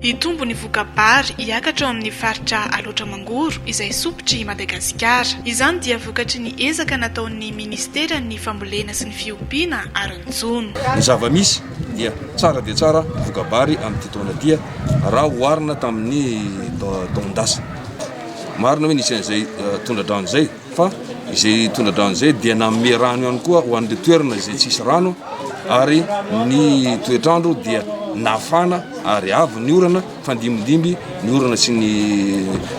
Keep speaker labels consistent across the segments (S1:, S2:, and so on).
S1: Hitombo ny voka-bary hiakatra ao amin'ny faritra Alaotra Mangoro izay sompitry Madagasikara. Izany dia vokatry ny ezaka nataon'ny Ministeran'ny Fambolena sy ny Fiompiana ary ny Jono. Ny zava-misy
S2: dia tsara dia tsara voka-bary amin'ity taona ity raha oharina tamin'ny taon-dasa. Marina hoe nisy an'izay tondra-drano izay. fa izay tondra-drano izay dia nanome rano ihany koa ho an'ireo toerana izay tsisy rano ary ny toetr'andro dia nafana ary avy ny orana fandimidimby ny orana sy ny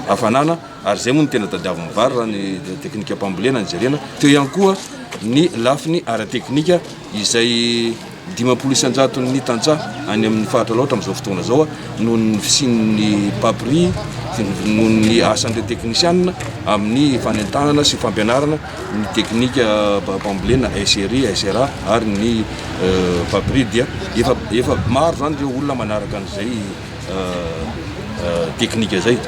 S2: hafanana ary izay moa ny tena tadiavin'ny vary raha ny teknika mpambolena ny jerena teo ihany koa ny lafiny ara-teknika izay Dimampolo isan-jaton'ny tantsaha any amin'ny faritra Alaotra amin'izao fotoana izao noho ny fisian'ny papri noho ny asan'ireo teknisianina amin'ny fanentanana sy fampianarana ny teknika bambolena SRI, SRA ary ny euh, papri dia efa, efa maro izany ireo olona manaraka an'izay euh, euh, teknika izay.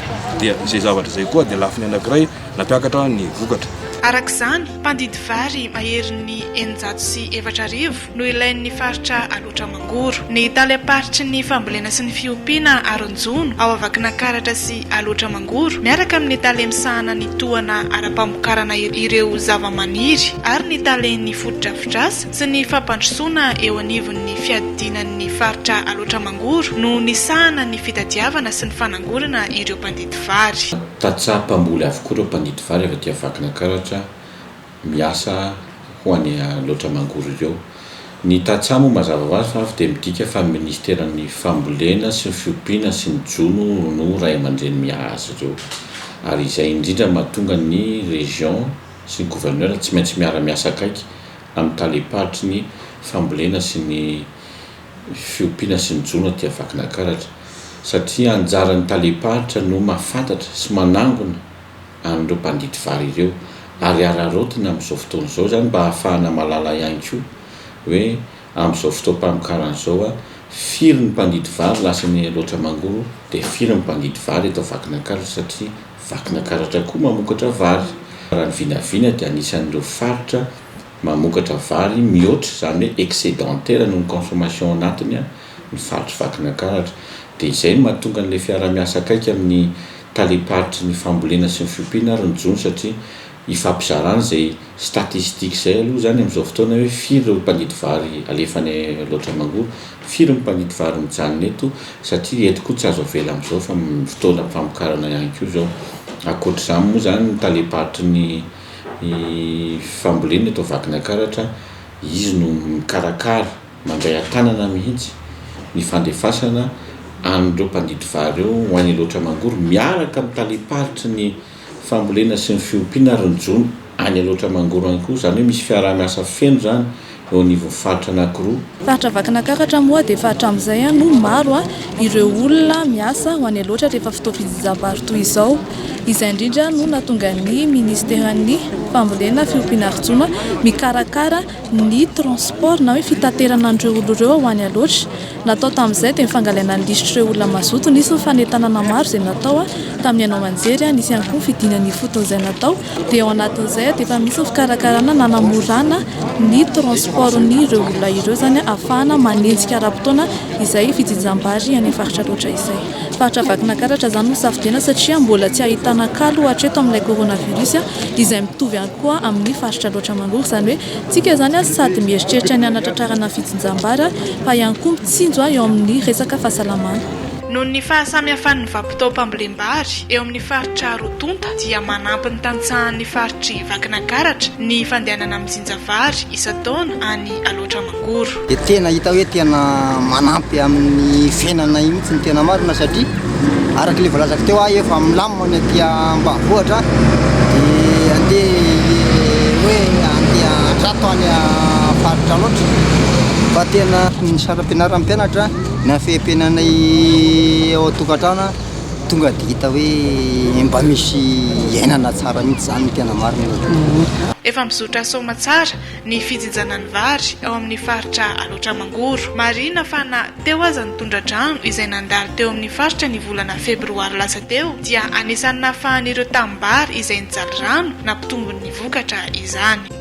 S2: Dia izay zavatra izay koa dia lafiny anankiray Nampiakatra ny vokatra. Araka izany,
S1: mpandidy vary maherin'ny eninjato sy efatra arivo no ilain'ny faritra Alaotra Mangoro. Ny tale am-paritry ny fambolena sy ny fiompiana Aronjono ao Vakinankaratra sy Alaotra Mangoro miaraka amin'ny tale misahana ny tohana ara-pamokarana ireo zavamaniry ary ny talen'ny fotodrafitrasa sy ny fampandrosoana eo anivon'ny fiadinan'ny faritra Alaotra Mangoro no nisahana ny fitadiavana sy ny fanangorana ireo mpandidy vary. Tantsaha mpamboly
S3: avokoa ireo mpangidy vary avy aty Vakinankaratra miasa ho any Alaotra Mangoro ireo. Ny tantsaha moa mazava ho azy fa avy dia midika fa ny minisiteran'ny fambolena sy ny fiompiana sy ny jono no ray aman-dreny miahy azy ireo. Ary izay indrindra no mahatonga ny région sy ny gouverneur tsy maintsy miara-miasa akaiky amin'ny talem-paritry ny fambolena sy ny fiompiana sy ny jono aty Vakinankaratra satria anjaran'ny talem-paritra no mahafantatra sy manangona an'ireo mpandidy vary ireo ary araraotina amin'izao fotoana izao izany mba hahafahana mahalala ihany koa hoe amin'izao fotoam-pamokarana izao a firy ny mpandidy vary lasan'ny Alaotra Mangoro dia firy ny mpandidy vary eto Vakinankaratra satria Vakinankaratra koa mamokatra vary raha ny vinavina dia anisan'ireo faritra Mamokatra vary mihoatra izany hoe excedentaire noho ny consommation ao anatiny ny faritry Vakinankaratra. Dia izay no mahatonga an'ilay fiaraha-miasa akaiky amin'ny talem-paritry ny fambolena sy ny fiompiana ary ny jono satria ifampizarana izay statistiques izay aloha izany amin'izao fotoana hoe firy ireo mpandidy vary alefa any Alaotra Mangoro, firy ny mpandidy vary mijanona eto satria eto koa tsy azo avela amin'izao fa fotoanam-pamokarana ihany koa izao. Ankoatr'izany moa izany ny talem-paritry ny. ny fambolena eto Vakinankaratra, izy no mikarakara, mandray an-tanana mihitsy ny fandefasana an'ireo mpandidy vary ireo ho any Alaotra Mangoro miaraka amin'ny talem-paritry ny fambolena sy ny fiompiana ary ny jono any Alaotra Mangoro ihany koa, izany hoe misy fiaraha-miasa feno izany. eo anivon'ny faritra anankiroa. Faritra Vakinakaratra
S4: moa dia efa hatramin'izay no maro ireo olona miasa ho any Alaotra rehefa fotoam-pijijam-bary toy izao. Izay indrindra no nahatonga ny minisiteran'ny fambolena, fiompiana ary jono mikarakara ny transport na hoe fitaterana an'ireo olona ireo ho any Alaotra. Natao tamin'izay dia ny fangalaina ny lisitr'ireo olona mazoto. Nisy ny fanentanana maro izay natao tamin'ny haino aman-jery. Nisy ihany koa ny fidinana ifoton'izay natao. Dia ao anatin'izay dia efa misy ny fikarakarana nanamorana ny transportn'ireo olona ireo izany ahafahana manenjika ara-potoana izay fijinjam-bary any amin'ny faritra Alaotra izay. Faritra Vakinankaratra izany no safidiana satria mbola tsy ahitana kalo hatreto amin'ilay coronavirus izay mitovy ihany koa amin'ny faritra Alaotra manory izany hoe Tsika izany ary sady mieritreritra ny hanatratrarana fitsinjam-bara fa ihany koa mitsinjo eo amin'ny resaka fahasalamana. Noho ny
S1: fahasamihafan'ny vabotaom-pambolem-bary eo amin'ny faritra roa tonta dia manampy ny tantsahan'ny faritr'i Vakinakaratra ny fandehanana mijinja vary isan-taona any Alaotra Mangoro. Goro. Dia tena hita hoe
S5: tena manampy amin'ny fiainana io mihitsy ny tena marina satria araka ilay voalazako teo aho efa milamina ny aty ambanivohitra dia andeha ilay hoe andeha antrato any faritra loatra fa tena ny saram-pianaran'ny mpianatra ny hafeham-piainanay ao an-tokantrano tonga dia hita hoe mba misy iainana tsara mihitsy izany ny tena marina e. Efa
S1: mizotra soamatsara ny fijinjana ny vary ao amin'ny faritra Alaotra Mangoro. Marihina fa na teo aza ny tondra-drano izay nandalo teo amin'ny faritra ny volana febroary lasa teo dia anisan'ny nahafahan'ireo tanimbary izay nijaly rano nampitombo ny vokatra izany.